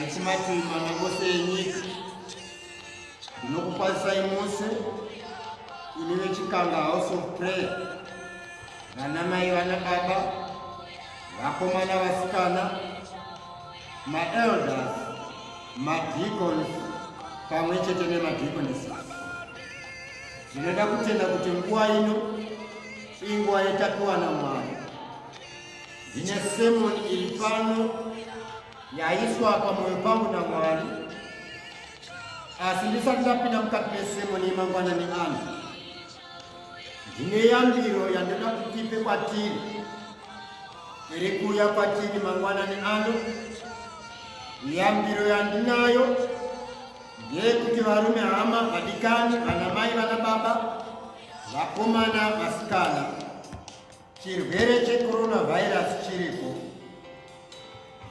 richimati mamabose enyika ndinokukwazisai mose ini vechikanga house of prayer vana mai vana baba vakomana vasikana maelders madicons pamwe chete nemadiconesis zvinoda kutenda kuti nguva ino inguva yetapiwa namwari Ndine sermon iri pano yaiswa pamoyo pangu naMwari, asi ndisati ndapinda mukati mesermon yemangwana neanhu, ndine yambiro yandinoda kuti ipe kwatiri iri kuuya kwatiri mangwana neano. Yambiro yandinayo ndeyekuti varume, hama, vadikani, vanamai, vanababa, vakomana, vasikana Chirwere checoronavirus chiriko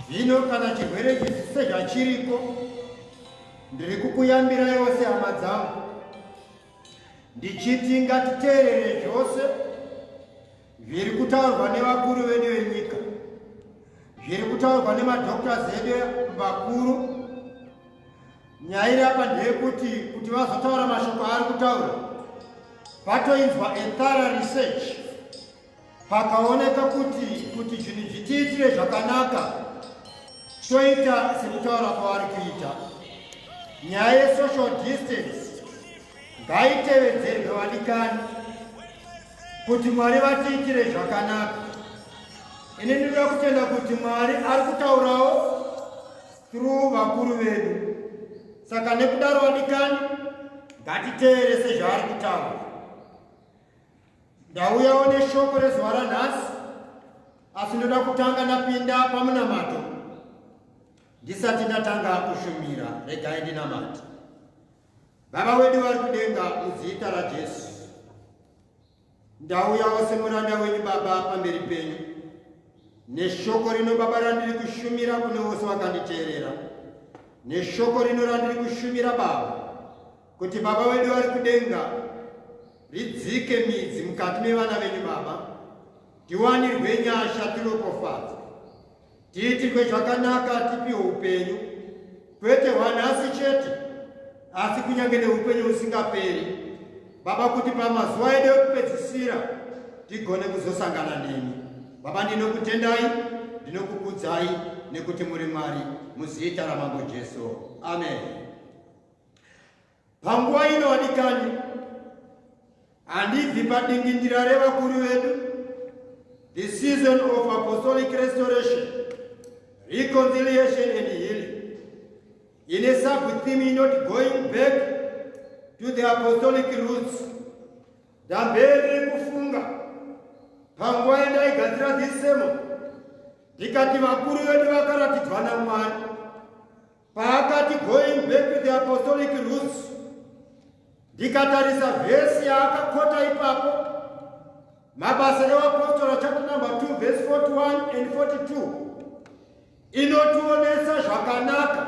zvino, kana chirwere chisi sezvachiriko, ndiri kukuyambira yose hama dzangu ndichiti ngatiteerere zvose zviri kutaurwa nevakuru vedu venyika, zviri kutaurwa nemadoctors edu vakuru Nyaya iri apa ndeyekuti kuti vazotaura mashoko aari kutaura vatoinzwa ethara research pakaoneka kuti kuti zvinhu zvitiitire zvakanaka toita sekutaura kwavari kuita nyaya yesocial distance ngaitevedzerwe vadikani kuti mwari vatiitire zvakanaka ini ndinoda kutenda kuti mwari ari kutaurawo through vakuru vedu saka nekudaro vadikani ngatiteere sezvaari kutaura ndauyawo neshoko rezuva ranhasi asi ndoda kutanga ndapinda pamunamato ndisati ndatanga kushumira regai ndinamati baba wedu vari kudenga muzita rajesu Ndauyawo semuranda wenyu Baba pamberi penyu neshoko rino Baba randiri kushumira kune vose vakanditeerera neshoko rino randiri kushumira Baba kuti Baba wedu vari kudenga ridzike midzi mukati mevana venyu Baba tiwanirwe nyasha tiropofadzwe Tiitirwe zvakanaka tipiwe upenyu, kwete hwanhasi chete, asi kunyange neupenyu husingaperi, Baba, kuti pamazuva edu ekupedzisira tigone kuzosangana nemi. Baba, ndinokutendai, ndinokukudzai, nekuti muri Mwari, muzita raMambo Jesu. Ameni. Panguva ino vadikani, handibvi padingindira revakuru vedu, the season of apostolic restoration, reconciliation and healing. Ine sub-theme inoti going back to the apostolic roots. Ndamberi kufunga panguva yandaigadzira this sermon ndikati vakuru vedu vakaratidzwa namwari Paakati going back to the apostolic roots, ndikatarisa vhesi yaakakota ipapo, mabasa evapostora chapter number 2 verse 41 and 42 inotionesa zvakanaka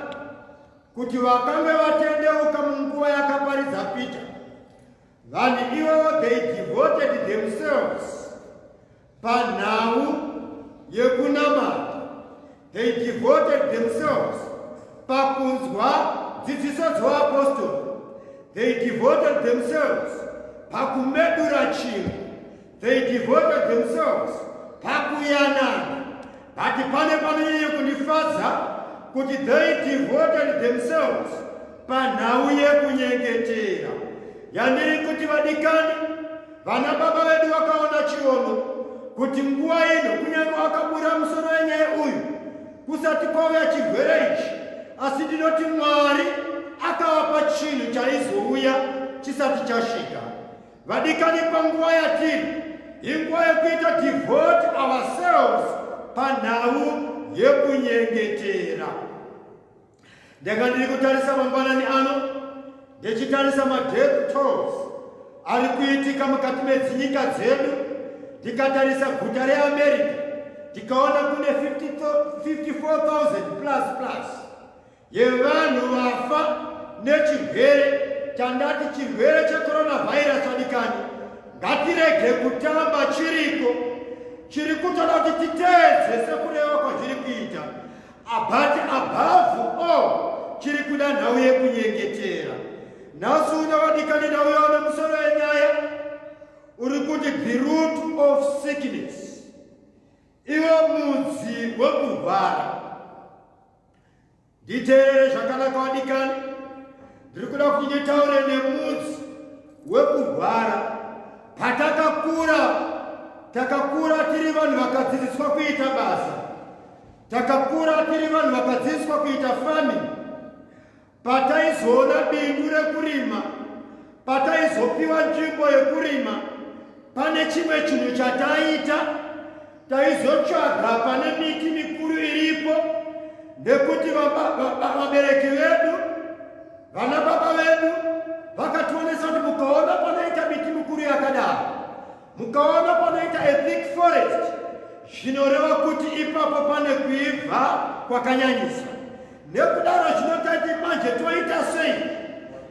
kuti vakange vatendeuka munguva yakaparidza Peter Vanhu ivo they devoted themselves panhau yekunamata. They devoted themselves pakunzwa dzidziso dzoapostori. They devoted themselves pakumedura chinhu They devoted themselves pakuyanana but pane panonyanya kundifadza kuti they devoted themselves panhau yekunyengetera yandiri kuti vadikani vana baba vedu vakaona chiono kuti nguva ino kunyange wakabura musoro wenyaya uyu kusati kwauya chirwere ichi asi ndinoti mwari akavapa chinhu chaizouya chisati chasvika Vadikani panguva yatiri inguva yekuita devote ourselves panhau yekunyengetera. Ndanga ndiri kutarisa mangwanani ano ndichitarisa madeath tolls ari kuitika mukati medzinyika dzedu ndikatarisa guta reamerica ndikaona kune 54000 plus plus yevanhu vafa nechirwere chandati chirwere checoronavirus adikani ngatirege kutamba chiriko chiri kutoda kuti titeedze sekureva kwazviri kuita abati abhavu o chiri kuda nhau yekunyengetera nhasi uno vadikani nhau yaona musoro yenyaya uri kuti the root of sickness iwo mudzi wekurwara Nditeerere zvakanaka wadikani, ndiri kuda kuti nditaure nemudzi wekurwara. Patakakura, takakura tiri vanhu vakadzidziswa kuita basa, takakura tiri vanhu vakadzidziswa kuita farming, pataizoona bindu rekurima pataizopiwa nzvimbo yekurima pane chimwe chinhu chataiita taizotsvaga pane miti mikuru iripo nekuti vabereki vedu vana baba vedu vakationesa kuti mukaona panoita miti mikuru yakadaro mukaona panoita a thick forest zvinoreva kuti ipapo pane kuibva kwakanyanyisa Nekudaro chinotati manje toita sei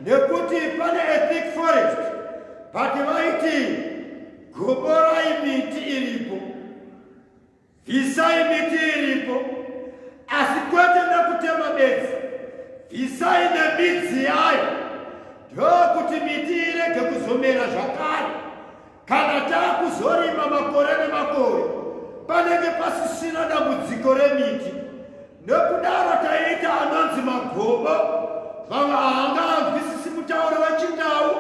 nekuti pane a thick forest but vaiti goborai miti iripo bvisai miti iripo asi kwete nekutema bedzi bvisai nemidzi yayo ndokuti miti irege kuzomera zvakare kana taakuzorima makore nemakore panenge pasisina dambudziko remiti Nekudaro taiita anonzi magobo vanga hanga anzwisisi mutauro wechindau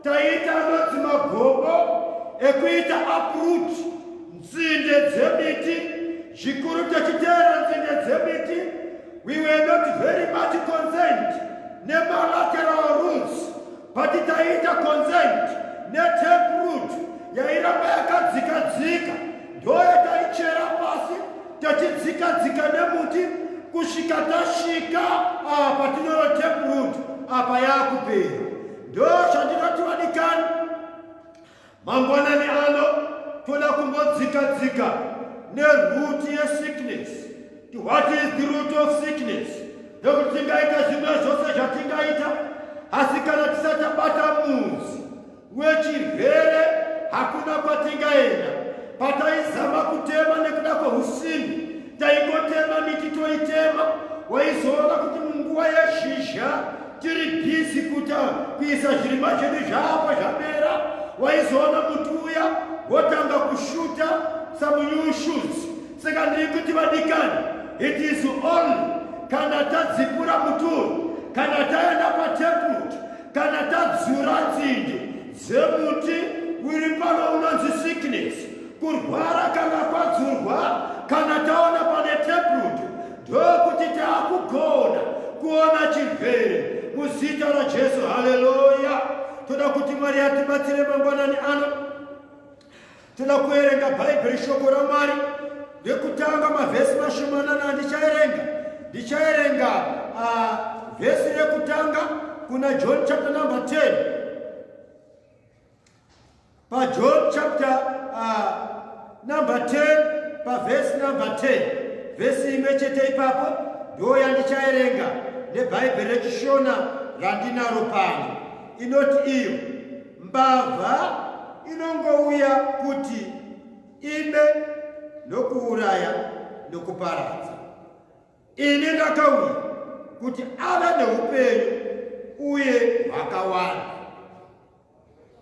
taiita anonzi magobo ekuita uproot nzinde dzemiti zvikuru techiteera nzinde dzemiti we were not very much concerned nemalateral rules but taiita consent netape root yairamba yakadzika dzika ndoya taichera pasi tachidzika dzika nemuti kusvika tasvika apa tinoro tape root apa yakupera ndo zvandinoti vadikani Mangwanani ano toda kumbodzika dzika neroot yesickness to what is the root of sickness nekuti tingaita zvimwe zvose zvatingaita asi kana tisatabata muzi wechirwere hakuna kwatingaenda pataizama kutema nekuda kweusimbi taingotema miti toitema waizoona kuti munguva yezhizha tiri bhizi kuta kuisa zvirimwa zvedu zvapa zvapera waizoona muti uya wotanga kushuta some new shoots saka ndiri kuti vadikani it is only kana tadzipura muti uyu kana taenda pateput kana tadzura nzinde dzemuti uri pano unonzi sickness Kurwara kana kwadzurwa kana taona pane taproot ndokuti taakugona kuona chirwere muzita raJesu. Haleluya! Toda kuti Mwari atibatsire mangwanani ano. Toda kuerenga Bhaibheri, shoko raMwari rekutanga, mavhesi mashomanana ndichaerenga. Ndichaerenga ah, vhesi rekutanga kuna John chapter number 10 pajohn chapter uh, number 10 pavhesi number 10 vhesi imwe chete ipapo ndo yandichaerenga nebhaibheri rechishona randinaro pano inoti iyo mbavha inongouya kuti ibe nokuuraya nokuparadza ini ndakauya kuti ava neupenyu uye hwakawanda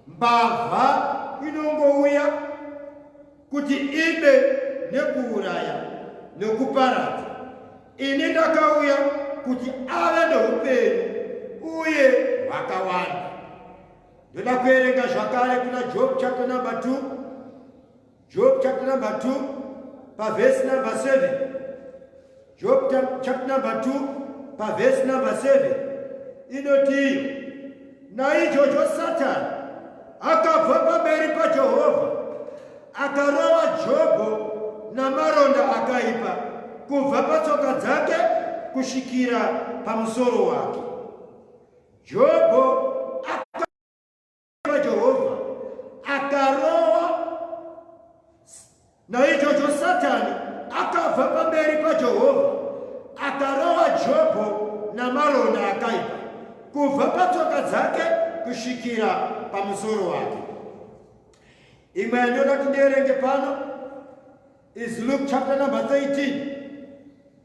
Mbavha inongouya kuti ibe nekuuraya nekuparadza. Ini ndakauya kuti ave neupenyu uye hwakawanda. Ndoda kuerenga zvakare kuna Job chapter number 2 Job chapter number 2 paverse number 7 Job chapter number 2 paverse number 7 inotiyo naichocho satani akabva pamberi pajehovha akarova jobho namaronda akaipa kubva patsoka dzake kusvikira pamusoro wake jobho vaJehovha akarowa. Naichocho Satani akabva pamberi paJehovha akarowa Jobho namaronda akaipa kubva patsoka dzake kusvikira pamusoro wake. Imwe yandoda kuti ndierenge pano is Luke chapter number 13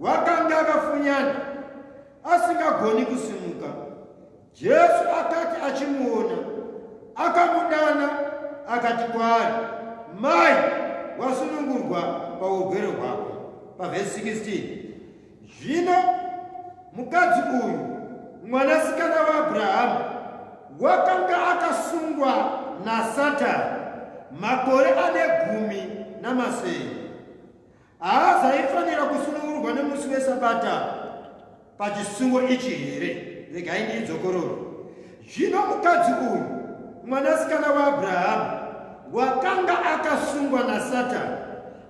Wakanga akafunyana asingagoni kusimuka. Jesu akati achimuona, akamudana akati kwaari, Mai, wasunungurwa paurwere hwako. Pavhesi 16 zvino mukadzi uyu mwanasikana waAbrahamu wakanga akasungwa naSatani makore ane gumi namasere. Haa zaifanira kusunungurwa nemusi wesabata pachisungo ichi here regai ndiidzokororo zvino mukadzi uyu mwanasikana waabrahamu wakanga akasungwa nasatani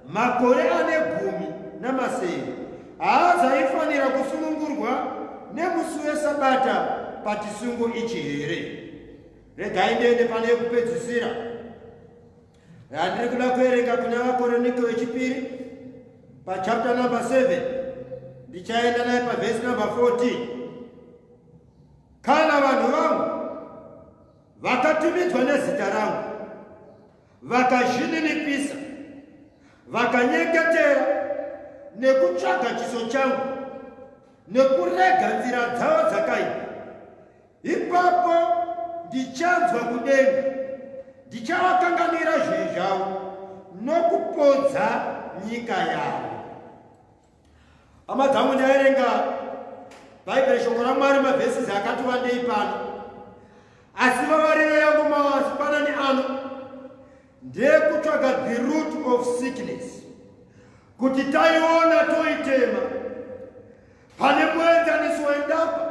makore ane gumi namasere haa zaifanira kusunungurwa nemusi wesabata pachisungo ichi here regai ndiende pane yekupedzisira Handiri kuda kuerenga kuna vakoroniko vechipiri pachapta number 7 ndichaenda naye pavhesi number 14 kana vanhu vangu vakatumidzwa nezita rangu vakazvininipisa vakanyeketera nekutsvaga chiso changu nekurega nzira dzavo dzakaipa Ipapo ndichanzwa kudenga, ndichavakanganira zvivi zvavo nokupodza nyika yavo. Hama dzangu, ndaerenga Bhaibheri, shoko raMwari, mavhesisi akati wandei pano, asi vavariro yangu mawanzipanani ano ndeyekutsvaga the root of sickness, kuti taiona toitema Pane muenzaniso wendapa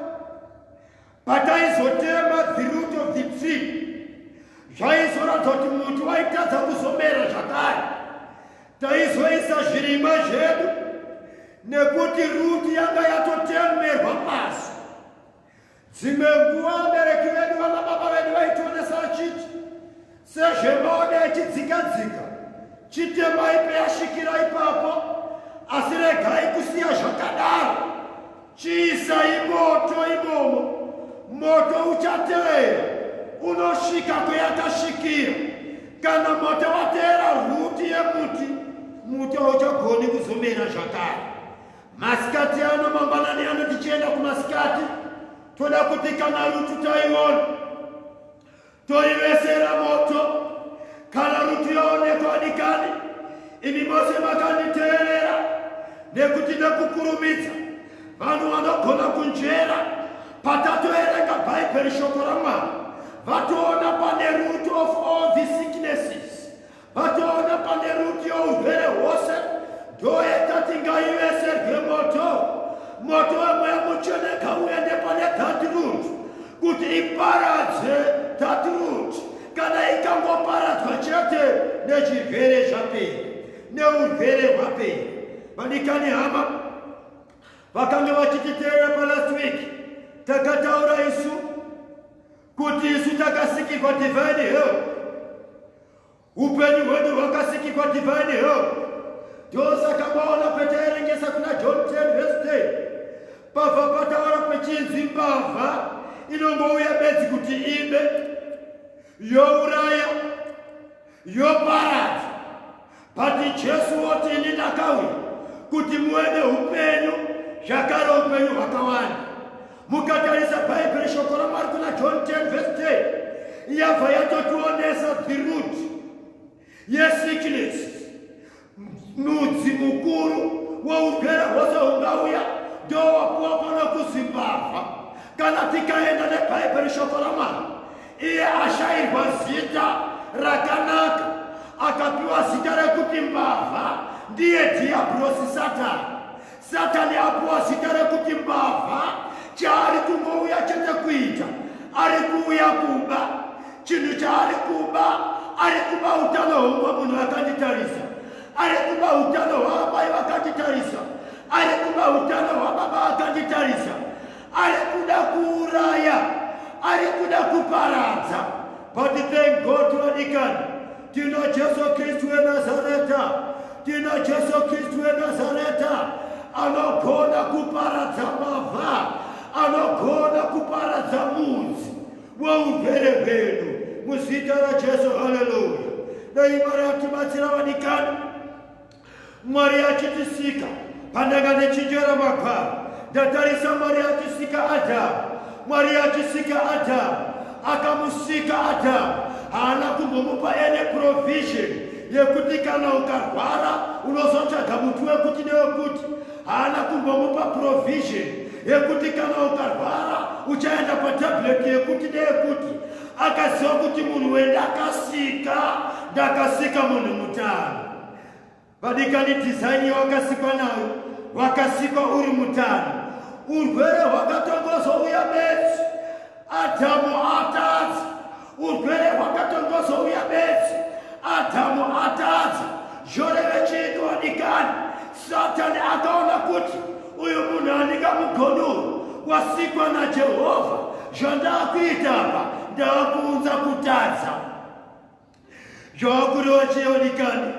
pataizotema the root of the tree zvaizoratidza kuti muti waitadza kuzomera zvakare taizoisa zvirimwa zvedu nekuti ruti yanga yatotemerwa pasi Dzimwe nguva vabereki vedu vana baba vedu vaitionesa vachiti sezvemaoda echidzika dzika chitemai peyasvikira ipapo asi regai kusiya zvakadaro chiisai moto imomo moto uchateera unosvika kweyakasvikira kana moto wateera rwuti yemuti muti hauchagoni kuzomera zvakare Masikati ano mangwanani ano tichienda kumasikati toda kuti kana rutu taiona toivesera moto kana rutu yaonekwa dikani imi mose makanditeerera nekuti nekukurumidza vanhu vanogona kunzvera patatoerenga bhaibheri shoko ramwari vatoona pane root of all the sicknesses Patoona pane rutyo urwere hwose ndoedza tingaive serwemoto moto wemweya mutsvene kauende pane that root kuti iparadze that root kana ikangoparadzwa chete nechirwere zvapera neurwere hwapera vadikani hama vakanga vachititeera palast week takataura isu kuti isu takasikirwa divine help upenyu hwedu hwakasikirwa divine help ndosaka maona pataerengesa kuna john 10 verse 10 pabva pataura pechinzi mbavha inongouya bedzi kuti ibe youraya yoparadza bati jesu woti ini ndakauya kuti muve neupenyu zvakare upenyu hwakawanda mukatarisa bhaibheri shoko ramwari kuna john 10 vese 10 yabva yatotionesa the root yesickness Nudzi mukuru wougere hwose hungauya ndowapuwa pano kuzimbabva kana tikaenda nebhaibheri shoko ramwari iye ashairwa zita rakanaka akapiwa zita rekuti mbavha ndiye dhiabhurosi satani Satani apuwa zita rekuti mbavha. Chaari kungouya chete kuita, ari kuuya kuba. Chinhu chaari kuba, ari kuba utano hweumwe munhu vakanditarisa, ari kuba utano hwaamai vakanditarisa, ari kuba utano hwababa vakanditarisa, ari kuda kuuraya, ari kuda kuparadza. But thank God to Adikani. Tina Jesu Kristu weNazareta, tina Jesu Kristu weNazareta anogona kuparadza mavha, anogona kuparadza mudzi wourwere hwedu muzita raJesu. Haleluya! Dai Mwari atibatsira vanikani, Mwari achitisika, pandanga ndichinjera magwaro, ndatarisa Mwari achisika Adhamu. Mwari achisika Adhamu, akamusika Adhamu, haana kumbomupa ene provision yekuti kana ukarwara unozotsvaga muti wekuti newekuti. Haana kumbomupa provision yekuti kana ukarwara uchaenda patableti yekuti neyekuti. Akaziva kuti munhu wendakasika, ndakasika munhu mutano. vadikani dhizaini yawakasikwa nayo wakasikwa uri mutano urwere hwakatongozouya bedzi adhamu atadzi urwere hwakatongozouya bedzi adhamu atadzi zvoreve chiiko wadikani satani akaona kuti uyu munhu andikamugonduru wasikwa najehovha zvandaakuita apa ndaakuunza kutadza Zvawakureva chiyoni kani?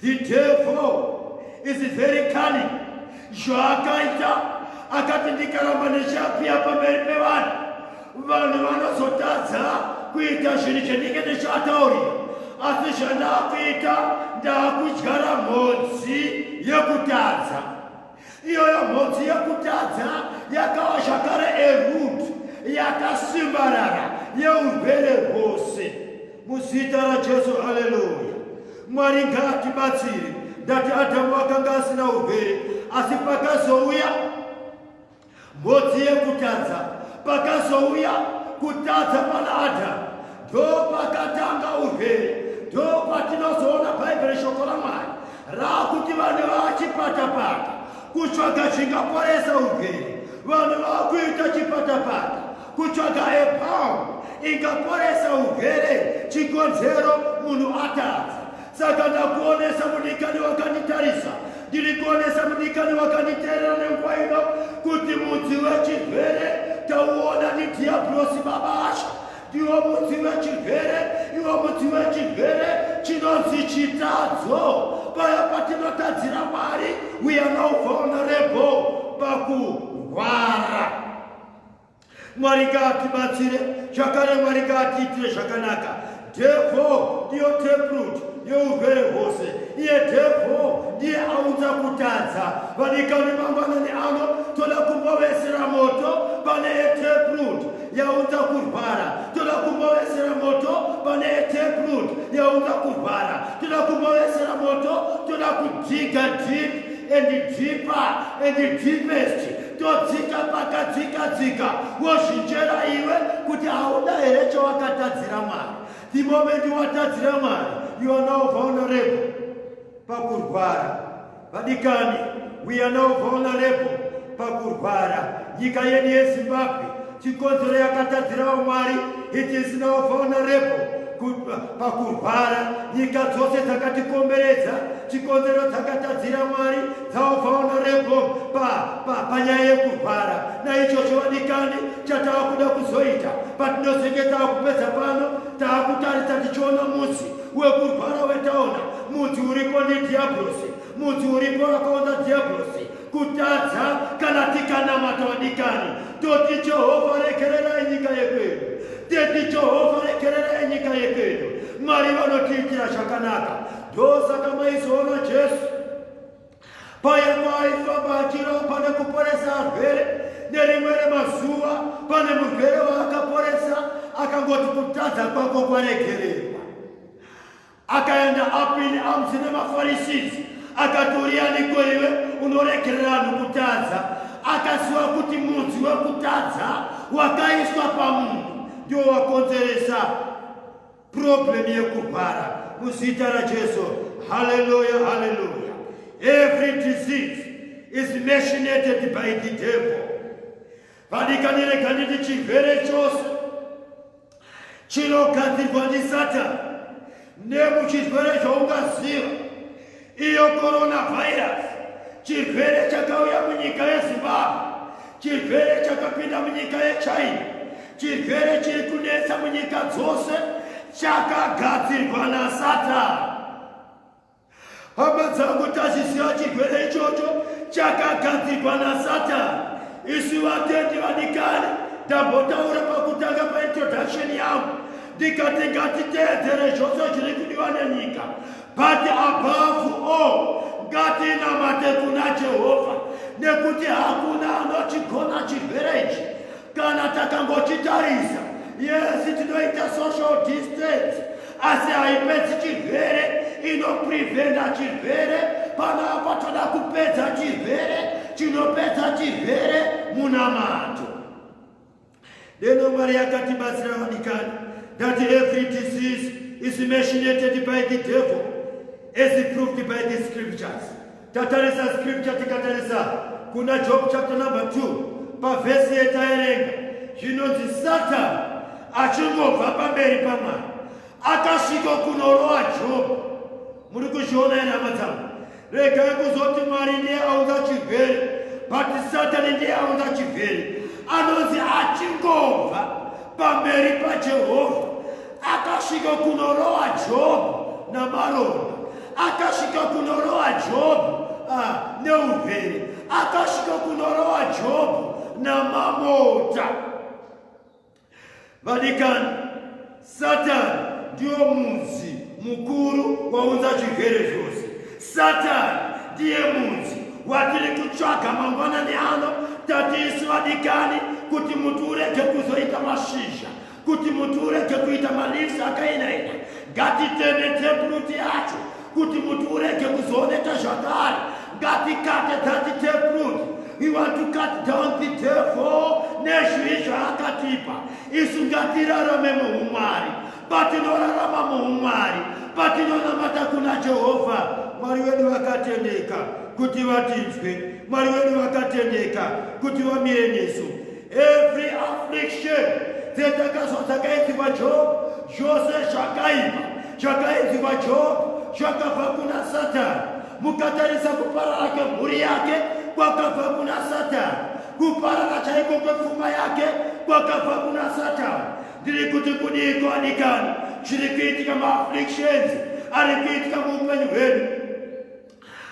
The devil is very cunning. Zvaakaita akati ndikaramba ndichiapia pamberi pevanhu, vanhu vanozotadza kuita zvinhu chendinge ndichiataurira. Asi zvandaakuita ndaakudyara mhodzi yekutadza. iyoyo mhodzi yekutadza yakawa zvakare erut yakasimbarara yeurwere hwose muzita rajesu haleluya mwari ngaatibatsire ndati adhamu akanga asina urwere asi pakazouya Ngozi yekutadza pakazouya kutadza pana Adhamu, ndopakatanga urwere. Ndopatinozoona Bhaibheri reshoko raMwari raakuti vanhu vachipatapata kutsvaga chingaporesa urwere. Vanhu vakuita chipatapata kutsvaga epamu ingaporesa urwere chikonzero munhu atadza. Saka ndakuonesa mudikani wakanditarisa, ndiri kuonesa mudikani wakanditeerera nenguva ino kuti mudzi wechirwere tauona ndidhiyabhurosi baba asha ndiwo mudzi wechirwere iwo mudzi wechirwere chinonzi chitadzo paya patinotadzira mwari we are now vulnerable pakurwara Mwari ngaatibatsire zvakare, Mwari ngaatiitire zvakanaka. Dhevho ndiyo taproot yeurwere hwose. Iye dhevho ndiye aunza kutadza. Vadikani, mangwanani ano toda kumbovesera moto pane etaproot yaunza kurwara. Toda kumbovesera moto pane etaproot yaunza kurwara. Toda kumbovesera moto, toda kujiga deep and deeper and deepest todzika pakadzika dzika wozvinjera iwe kuti hauda here chawakatadzira mwari the moment watadzira mwari you are now vulnerable pakurwara vadikani we are now vulnerable pakurwara nyika yedu yezimbabwe Chikonzero yakatadzira vamwari it is now vulnerable pakurwara nyika dzose dzakatikomberedza chikonzero dzakatadzira mwari dzaobvaona rebo panyaya yekurwara naichocho vadikani chatava kuda kuzoita patinozenge tava kupedza pano tava kutarisa tichiona mudzi wekurwara wetaona mudzi uripo nedhiabhurosi mudzi uripo akaonza dhiabhurosi kutadza kana tikanamata wadikani toti jehovha regererai nyika yekwedu teti jehovha regererai nyika yekwedu mwari vanotiitira zvakanaka ndosaka maizoona jesu paya paaifamba achirapa nekuporesa arwere nerimwe remazuva pane murwere waakaporesa akangoti kutadza kwako kwaregererwa Akaenda apini amzi nemafarisisi akati urianiko iwe unoregerera vanhu kutadza akaziva kuti mudzi wekutadza wakaiswa pamunhu ndiwo wakonzeresa problemu yekurwara muzita rajesu haleluya haleluya every disease is machinated by the devil vadikanirega nditi chirwere chose chinogadzirwa ndisatani nemuchirwere zvaungaziva iyo coronavirus chirwere chakauya munyika yezimbabwe chirwere chakapinda munyika yechina chirwere chiri kunetsa munyika dzose chakagadzirwa nasatani Hama dzangu tazisiya chigwere ichocho chakagadzirwa nasatani isi vatendi vadikani ndambotaura pakutanga paintroduction yangu ndikati ngatiteedzere zvose zviri kudiwa nenyika but above all ngatinamate kuna jehovha nekuti hakuna anochigona chigwere ichi Kana takangochitarisa, yesi tinoita social distance, asi haipedzi chirwere, inopreventa chirwere. Panapa toda kupedza chirwere, chinopedza chirwere munamato. Deno Mwari yakatibatsira vadikani that every disease is machinated by the devil as proved by the scriptures. Tatarisa scripture tikatarisa kuna Job chapter number 2 pavhesi yetaerenga zvinonzi Satani achingobva pamberi pamwari akasvika kunorowa Job. Muri kuzviona here hama dzangu? Regai kuzoti Mwari ndiye aunza chirwere, but Satani ndiye aunza chirwere. Anonzi achingobva pamberi paJehovha akasvika kunorowa jobhu namaronda akasvika kunorowa jobhu ah, neurwere akasvika kunorowa jobhu namamota vadikani satani ndiyo mudzi mukuru waunza chirwere zvose satani ndiye mudzi watiri kutsvaga mangwanani ano tatiisi vadikani kuti muti urege kuzoita mashizha kuti muti urege kuita maleaves akainaina ngatiteme tepruti yacho kuti muti urege kuzooneka zvakare ngatikate dhati tepruti we want to cut down the devil nezvii zvaakatipa isu ngatirarame muumwari patinorarama muumwari patinonamata kuna jehovha mwari wedu vakatendeka kuti vatinzwe mwari wedu vakatendeka kuti vamire nesu Every affliction dzetakazwa dzakaidzikwa Job zvose zvakaipa zvakaidzikwa Job zvakabva kuna Satani mukatarisa kuparara kwemhuri yake kwakabva kuna Satani kuparara chaiko kwepfuma yake kwakabva kuna Satani ndiri kuti kudii kuwanikana zviri kuitika maaflictions ari kuitika muupenyu hwedu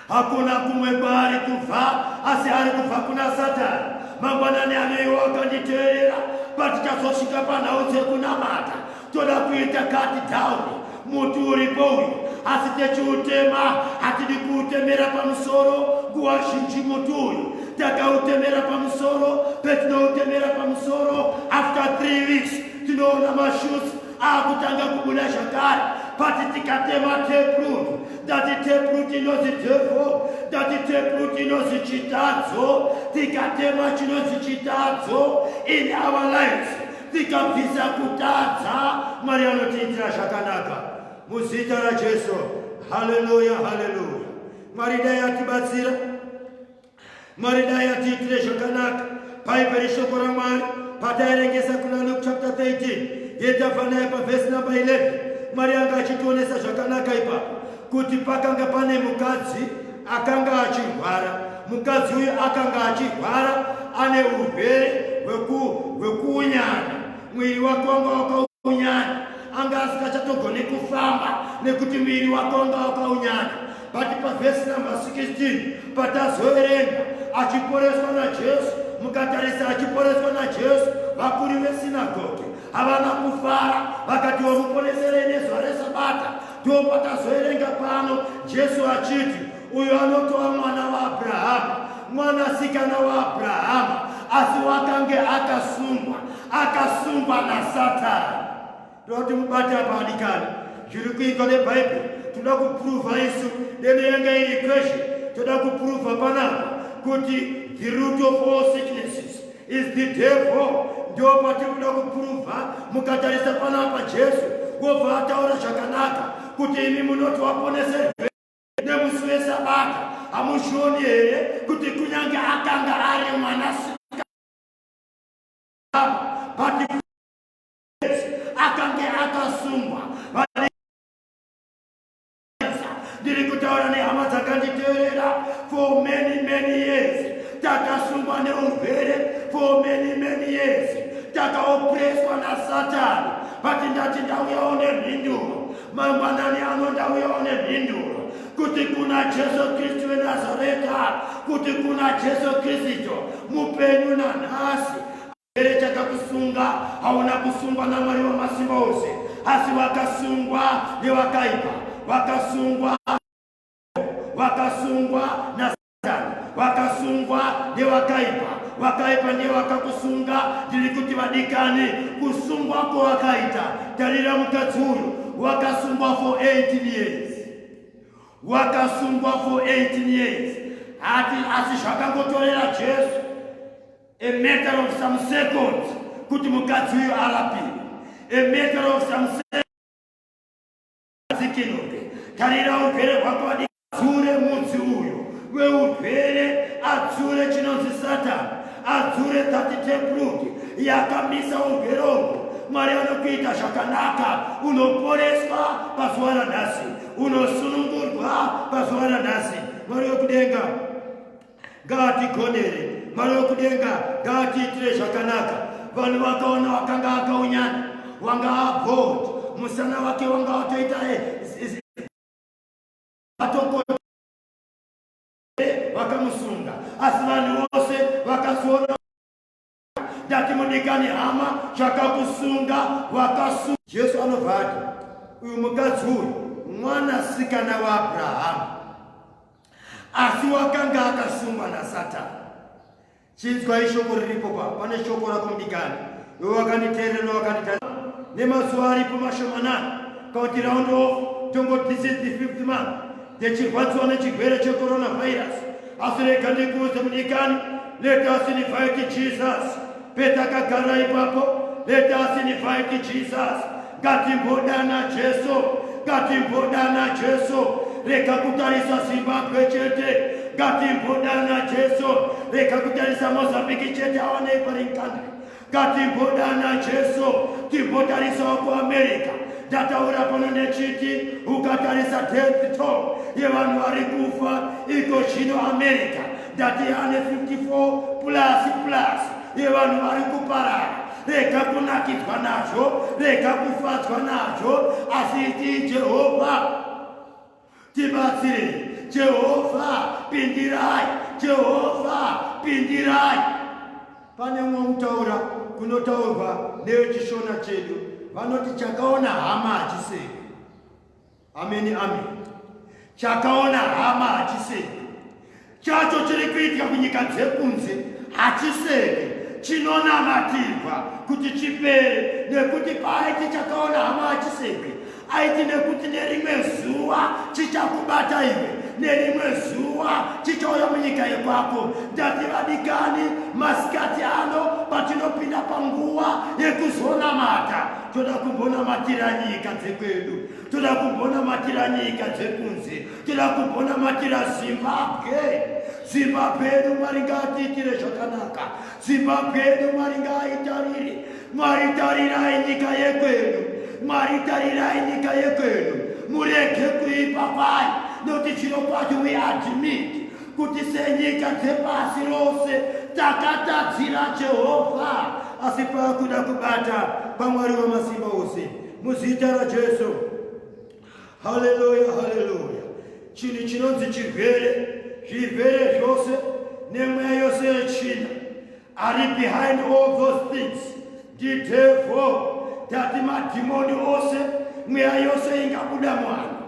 Hakuna kumwe kwaari kubva asi ari kubva kuna Satani. Mangwanani aneiwo akanditeerera patichazosvika panhau dzekunamata toda kuita kati dhauni muti uripo uyu asi techiutema hatidi kuutemera pamusoro nguva zhinji muti uyu takautemera pamusoro petinoutemera pamusoro after three weeks tinoona mashuts akutanga kubuda zvakare pati tikatema teprut tati teprut inozi devo tati teprut inozi chitadzo tikatema chinozi chitadzo in our lives tikabvisa kutadza mwari anotiitira zvakanaka muzita rajesu haleluya haleluya mwari dai atibatsira Mwari dai atiitire zvakanaka bhaibheri shoko ramwari pataerengesa kuna luke chapter 13 yetava naye pavhesi number 11 mwari anga achitionesa zvakanaka ipapo kuti pakanga pane mukadzi akanga achirwara mukadzi uyu akanga achirwara ane urwere hwekuunyana mwiri wake wanga wakaunyana anga asingachatogoni kufamba nekuti mwiri wake wanga wakaunyana But pavhesi number 16 patazoverenga achiporeswa naJesu, mukatarisa achiporeswa naJesu, vakuru vesinagoge havana kufara vakati wamuponeserei nezuva resabata. Ndiwo patazoverenga pano Jesu achiti uyo anotova mwana waAbrahama, mwanasikana waAbrahama, asi wakange akasungwa, akasungwa naSatani. Toda kuti mubate apa adikani zviri kuitwa nebhaibheri toda kupruva isu deno yanga iri kweshe toda kupruva panapa kuti the root of all sicknesses is the devil ndio patiri kuda kupruva mukatarisa panapa jesu wobva ataura zvakanaka kuti imi munoti waponese nemusi wesabata hamuzvioni here kuti kunyange akanga ari mwana akange akasungwa ndiri kutaura nehama dzakanditeerera for many many years takasungwa neurwere for many many years takaopreswa nasatani but ndati ndauyawo nemhinduro mangwanani ano ndauyawo nemhinduro kuti kuna jesu kristu wenazareta kuti kuna jesu kristu mupenyu nanhasi Here chakakusunga hauna kusungwa namwari wamasimba ose asi vakasungwa nevakaipa vakasungwa vakasungwa nasatani vakasungwa nevakaipa vakaipa ndiye vakakusunga ndiri kuti vadikani kusungwa kwowakaita tarira mukadzi uyu wakasungwa for 18 years wakasungwa for 18 years hati asi zvakangotorera jesu a matter of some seconds kuti mukadzi uyu arapiwe a matter of some seconds tarira ugere hwako wadii adzure mudzi uyo weurwere adzure chinonzi satani adzure tati tepruti yakamisa urwere uko mwari anokuita zvakanaka unoporeswa pazuva ranhasi unosunungurwa pazuva ranhasi mwari wekudenga ngaatigonere mwari wekudenga ngaatiitire zvakanaka vanhu vakaona wakanga akaunyana wanga abod musana wake wanga watoita eh, vakamusunga asi vanhu vose vakazoona ndati mudikani hama chakakusunga wakasunga jesu anobva ati uyu mukadzi uyu mwanasikana waabrahamu asi wakanga akasungwa nasatani chinzwa ishoko riripo pa pane shoko rako mudikani iwe wakanditeerera wakandita nemazuva aripo mashomanani kakuti round off tongo this is the fifth month yechirwadziwa nechigwere checoronavirus asi rega ndikuudze mudikani let us invite jesus petakagara ipapo let us invite jesus ngatimbodana jesu ngatimbodana jesu rega kutarisa zimbabwe chete ngatimbodana jesu rega kutarisa mozambiki chete awanei paringandri ngatimbodana jesu timbotarisawo kuamerica ndataura pano ndechiti ukatarisa death toll yevanhu vari kufa iko zvino america ndati ane 54 plus plus yevanhu vari kuparara rega kunakidzwa nazvo rega kufadzwa nazvo asi itii jehovha Tibatsire Jehovha pindirai Jehovha pindirai Pane umwe mutaura kunotaurwa nevechishona chedu vanoti chakaona hama hachisei ameni ameni chakaona hama hachisei chacho chiri kuitika kunyika dzekunze hachiseke chinonamatirwa kuti chipere nekuti paaiti chakaona hama achiseke aiti nekuti nerimwe zuva chichakubata iwe nerimwe zuva chichauya munyika yekwako ndati vadikani masikati ano patinopinda panguva yekuzonamata toda kumbonamatira nyika dzekwedu toda kumbonamatira nyika dzekunze tira kumbonamatira zimbabwe zimbabwe yedu mwari ngaatiitire zvakanaka zimbabwe yedu mwari ngaaitarire mwari tarirai nyika yekwedu mwari tarirai nyika yekwedu murege kuipa pai nokuti chiro kwacho we admit kuti senyika dzepasi rose takatadzira jehovha asi paakuda kubata pamwari wamasimba ose muzita rajesu haleluya haleluya chinhu chinonzi chirwere zvirwere zvose nemweya yose yechina ari behind all those things ndidevho tati madhimoni ose mweya yose ingabuda mwana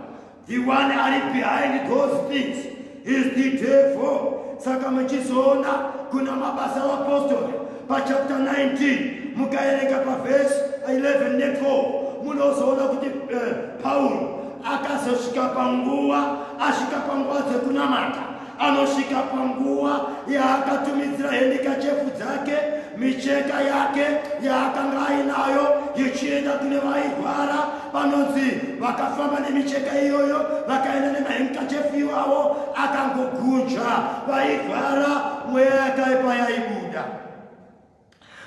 the one ari behind those things is the devil saka muchizoona kuna mabasa apostori pachapta 19 mukaerenga pavhesi 11 ne4 munozoona kuti eh, pauro akazosvika panguva asvika panguva dzekunamata anosvika panguva yaakatumidzira hendikachefu dzake micheka yake yaakanga ainayo yechienda kune vairwara vanonzi vakafamba nemicheka iyoyo vakaenda nemahenkachefu iwawo akangogunja vairwara mweya yakaipa yaibuda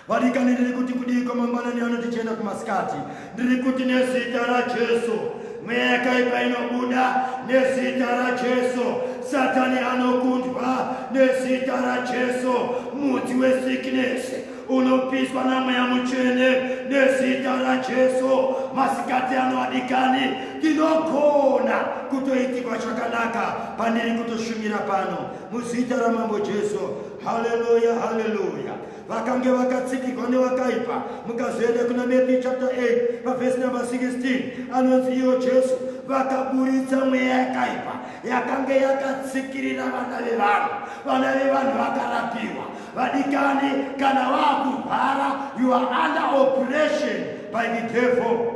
vadikaniriri kuti kudiiko mangwanani ano tichienda kumasikati ndiri kuti nezita rajesu mweya yakaipa inobuda nezita rajesu satani anokundwa nezita rajesu mudzi wesikinesi unopiswa namweya mutsvene nezita rajesu masikati ano adikani ndinogona kutoitikwa chakanaka pandiri kutoshumira pano muzita ramambo jesu haleluya haleluya vakange vakatsikirwa nevakaipa mukazoenda kuna matthew chapter 8 pavhesi number 16 anonzi ivo jesu vakaburitsa mweya yakaipa yakange yakatsikirira vana vevanhu vana vevanhu vakarapiwa vadikani kana vakurwara you are under operation by the devil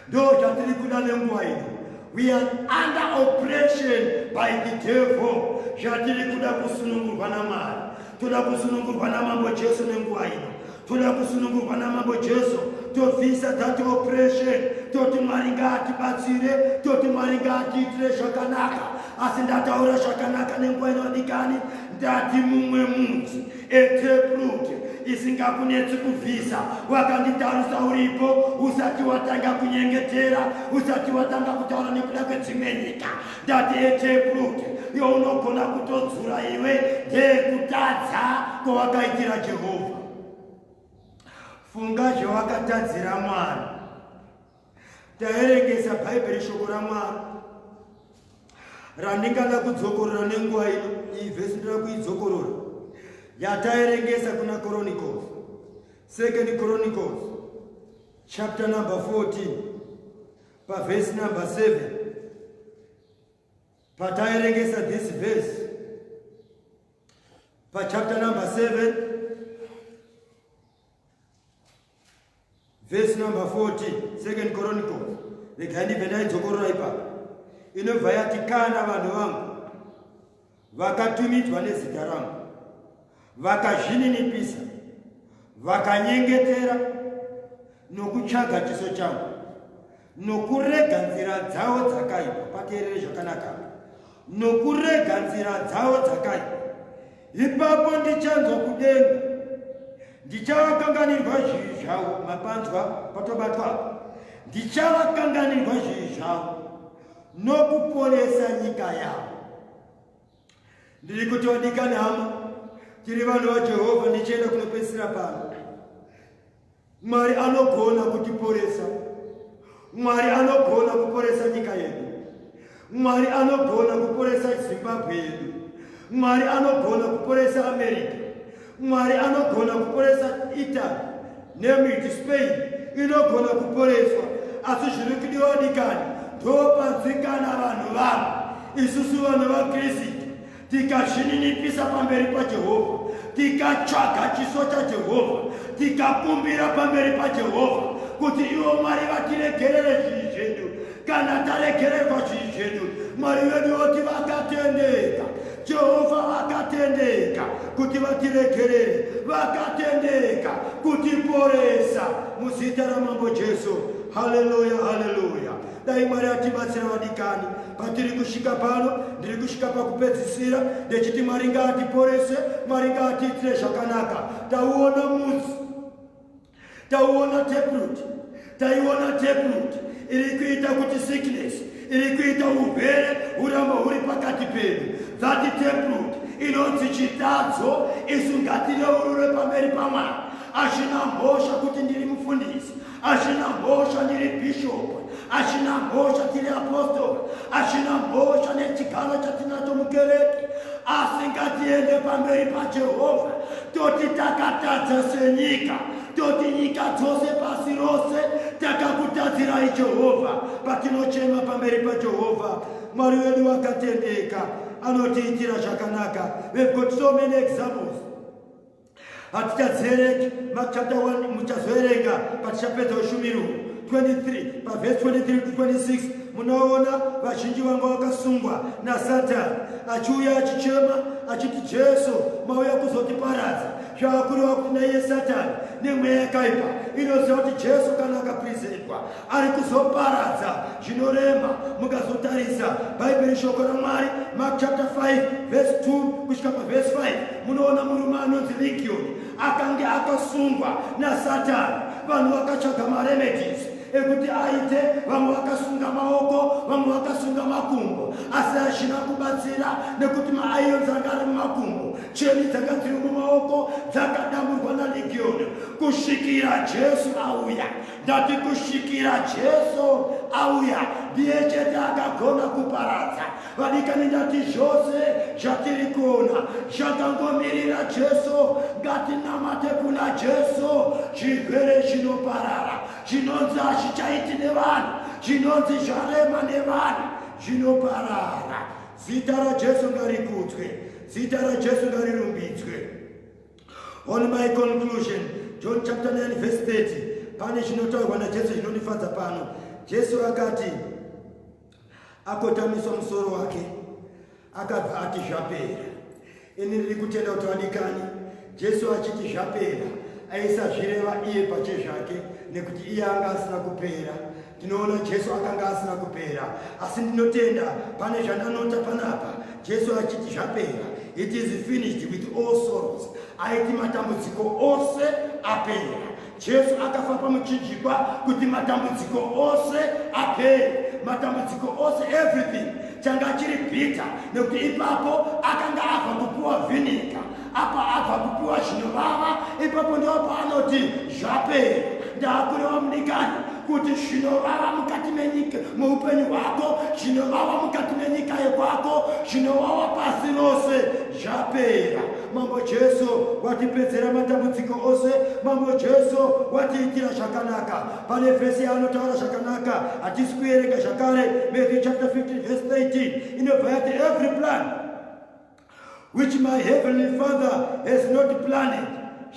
Ndo chatiri kuda nenguva ino. We are under oppression by the devil. Chatiri kuda kusunungurwa naMwari. Toda kusunungurwa naMambo Jesu nenguva ino. Toda kusunungurwa naMambo Jesu. Tobvisa that oppression. Toti Mwari ngaatibatsire. Toti Mwari ngaatiitire zvakanaka. Asi ndataura zvakanaka nenguva inodikani. Ndati mumwe munzi. eteprut isingakunetsi kubvisa wakanditarisa uripo usati watanga kunyengetera usati watanga kutaura nekuda kwedzimwe nyika ndati eteprut younogona kutodzura iwe ndeyekutadza kwawakaitira jehovha funga zvewakatadzira mwari Taerengesa Bhaibheri shoko raMwari randingada kudzokorora nenguva ino iyi vhesi ndoda kuidzokorora yataerengesa kuna chronicles second chronicles chapter number 14 pavhesi number 7 pataerengesa this verse pachapter number 7 Verse number 40, Second Chronicles. Regai ndibve ndaidzokorora ipapo. Inobva yati kana vanhu vangu vakatumidzwa nezita rangu vakazvininipisa vakanyengetera nokutsvaga chiso changu nokurega nzira dzavo dzakaipa pateerere zvakanaka nokurega nzira dzavo dzakaipa ipapo ndichanzwa kudenga ndichavakanganirwa zvivi zvavo mapanzwa patobatwa ndichavakanganirwa zvivi zvavo nokuponesa nyika yavo ndiri kutodika nhamo tiri vanhu vajehovha ndichienda kunopedzisira pano Mwari anogona kutiporesa. Mwari anogona kuporesa nyika yedu. Mwari anogona kuporesa Zimbabwe yedu. Mwari anogona kuporesa America. Mwari anogona kuporesa Italy, name it Spain, inogona kuporeswa. Asi zviri kudiwa dikani ndopanzwikana vanhu vanhu isusu vanhu vaKristu tikazvininipisa pamberi pajehovha tikatsvaga chiso chajehovha tikakumbira pamberi pajehovha kuti ivo mwari vatiregerere zvinhu zvedu kana taregererwa zvinhu zvedu mwari vedu voti vakatendeka jehovha vakatendeka kuti vatiregerere vakatendeka kutiporesa muzita ramambo jesu haleluya haleluya dai mwari atibatsira vadikani patiri kusvika pano ndiri kusvika pakupedzisira ndechiti mwari ngaatiporese mwari ngaatiitire zvakanaka tauona muzi tauona teprut taiona teprut iri kuita kuti sickness iri kuita urwere huramba huri pakati pedu dhati teprut inonzi chitadzo isu ngatireurure pamberi pamwari achina mhosva kuti ndiri mufundisi achina mhosva ndiri bhishopu achina mhosva tiri apostori achina mhosva nechigaro chatinacho mukereke asi ngatiende pamberi pajehovha toti takatadza senyika toti nyika dzose pasi rose takakutadzirai jehovha patinochema pamberi pajehovha mwari wedu wakatendeka anotiitira zvakanaka we've got so many examples hatichadzereki mak chapter 1 muchazoerenga patichapedza ushumiri uhu 23 pavhesi 23 to 26 munoona vazhinji vanga vakasungwa nasatani achiuya achichema achiti jesu mauya kuzotiparadza zvaakureva kuti naiye satani nemweya yakaipa inoziva kuti jesu kana akaprizirirwa ari kuzoparadza zvinorema mukazotarisa bhaibheri shoko ramwari mark chapter 5 verse 2 kusvika paverse 5 munoona murume anonzi ligioni akange akasungwa nasatani vanhu vakatsvaga maremedis ekuti aite vamwe vakasunga maoko vamwe vakasunga makumbo asi hazvina kubatsira nekuti maaiyo dzanga ari mumakumbo cheni dzanga dziri mumaoko dzakadamburwa naligioni kusvikira jesu auya ndati kusvikira jesu auya ndiye chete akagona kuparadza vadikani ndati zvose zvatiri kuona zvakangomirira jesu ngatinamate kuna jesu zvirwere zvinoparara zvinonzi hazvichaiti nevanhu zvinonzi zvarema nevanhu zvinoparara zita rajesu ngarikudzwe zita rajesu ngarirumbidzwe On my conclusion, John chapter 9 verse 30, pane chinotaurwa naJesu chinondifadza pano. Jesu akati akotamiswa musoro wake akabva ati zvapera. Ini ndiri kutenda kuti vadikani, Jesu achiti zvapera aisazvireva iye pache zvake nekuti iye anga asina kupera tinoona jesu akanga asina kupera asi ndinotenda pane zvandanota panapa jesu achiti zvapera it is finished with all sorrows aiti matambudziko ose apera jesu akafa pamuchinjikwa kuti matambudziko ose apera matambudziko ose everything changa chiri bhita nekuti ipapo akanga ava kupuwa vhinika apa abva kupiwa zvinovava ipapo ndiwo paanoti zvapera ndakureva mudikani kuti zvinovava mukati menyika muupenyu hwako zvinovava mukati menyika yekwako zvinovava pasi rose zvapera mambo jesu watipedzera matambudziko ose mambo jesu watiitira zvakanaka pane vhesi yaanotaura zvakanaka hatisi kuerenga zvakare matthew chapter 15 vhesi 13 inobva yati every plan which my heavenly father has not planted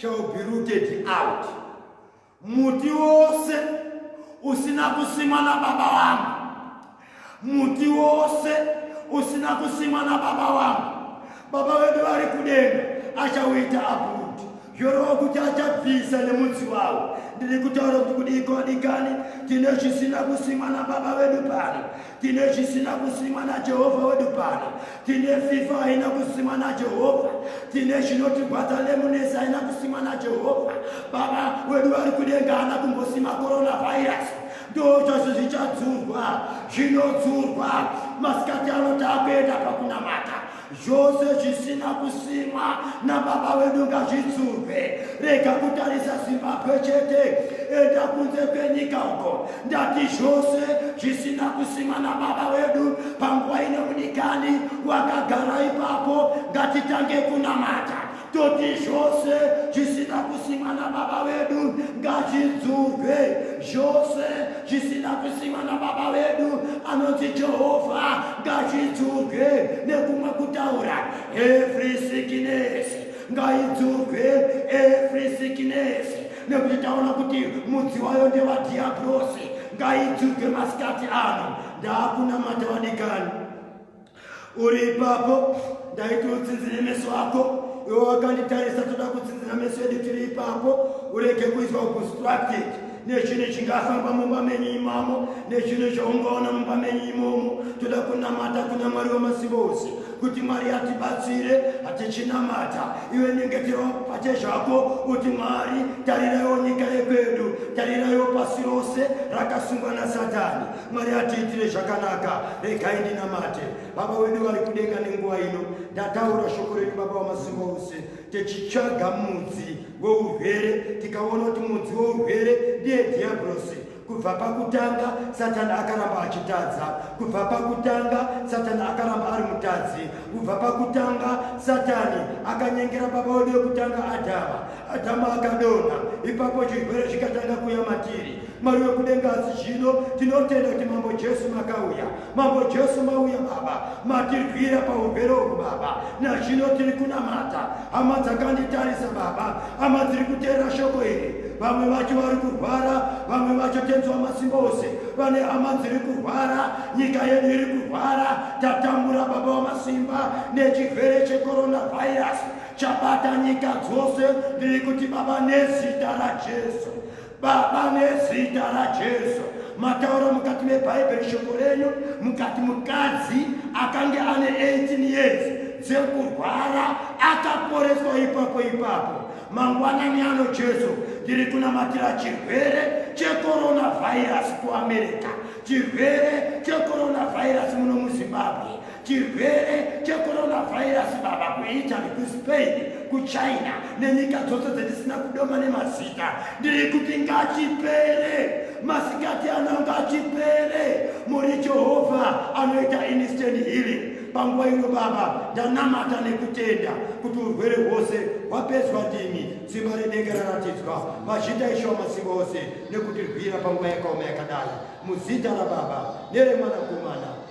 shall be rooted out muti wose usina kusimwa nababa wangu muti wose usina kusimwa nababa wangu baba vedu vari kudenga achauita apo yorova kuti achabvisa nemudzi wavo ndiri kutaura kuti kudiko adikani tine zvisina kusimwa nababa vedu pano tine zvisina kusimwa najehovha wedu pano tine fifa haina kusimwa najehovha tine zvinotigwadza lemunesi haina kusimwa najehovha baba wedu vari kudenga haana kumbosima coronavirasi ndozvazvo zvichadzurwa zvinodzurwa masikati ano takuenda pakunamata zvose zvisina kusimwa nababa wedu ngazvidzurwe rega kutarisa zimbabwe chete enda kunze kwenyika uko ndati zvose zvisina kusimwa nababa wedu panguva ine unikani wakagara ipapo ngatitange kunamata toti zvose zvisina kusimwa nababa vedu ngazvidzurwe zvose zvisina kusimwa nababa vedu anonzi jehovha ngazvidzurwe nekumwe kutaura every sickness ngaidzurwe every sickness nekuti taona kuti mudzi wayo ndevadhiabrosi ngaidzurwe masikati ano ndakunamata vadikani uri ipapo ndaiti utsinzire meso ako iwe wakanditarisa toda kutsinzira meso yedu tiri ipapo urege kuizwa uconstructed nechinhu chingafamba mumba menyu imamo nechinhu chaungaona mumba menyu imomo toda kunamata kuna mwari wemasimba ose kuti mwari atibatsire hatichinamata iwe nyengetero pache zvako kuti mwari tariraiwo nyika yekwedu tariraiwo pasi rose rakasungwa nasatani mwari atiitire zvakanaka regai ndinamate baba wedu vari kudenga nenguva ino ndataura shoko renyu baba wamasimba ose tichitsvaga mudzi weurwere tikaona kuti mudzi weurwere ndiye dhiabhurosi kubva pakutanga satani akaramba achitadza kubva pakutanga satani akaramba ari mutadzi kubva pakutanga satani akanyengera baba wedu yekutanga adhama adhama akadonha ipapo chirwere zvikatanga kuya matiri Mwari wekudenga asi zvino tinotenda kuti mambo Jesu makauya. Mambo Jesu mauya baba, matirwira paurwere uhu baba. Nazvino tiri kunamata. Hama dzakanditarisa baba, hama dziri kuteera shoko iri. Vamwe vacho vari kurwara, vamwe vacho tenzi wamasimba ose. Vane hama dziri kurwara, nyika yedu iri kurwara. Tatambura baba wamasimba nechirwere checoronavirus chabata nyika dzose. Ndiri kuti baba nezita raJesu Baba, nezita raJesu, mataura mukati meBhaibheri shoko renyu, mukati mukadzi akange ane 18 years dzekurwara akaporeswa ipapo ipapo. Mangwanani ano Jesu, ndiri kunamatira chirwere checoronavirus kuAmerica, chirwere checoronavirus muno muZimbabwe. Chirwere checoronavirus baba kuItaly, kuSpain, kuChina nenyika dzose dzetisina kudoma nemazita. Ndiri kuti ngachipere, masikati ano ngachipere. Muri Jehovha anoita instant healing. Panguva ino baba ndanamata nekutenda kuti urwere hwose hwapedzwa ndimi simba renenge raratidzwa mazita ishuwa masimba ose nekutirwira panguva yakaoma yakadai muzita rababa neremwanakomana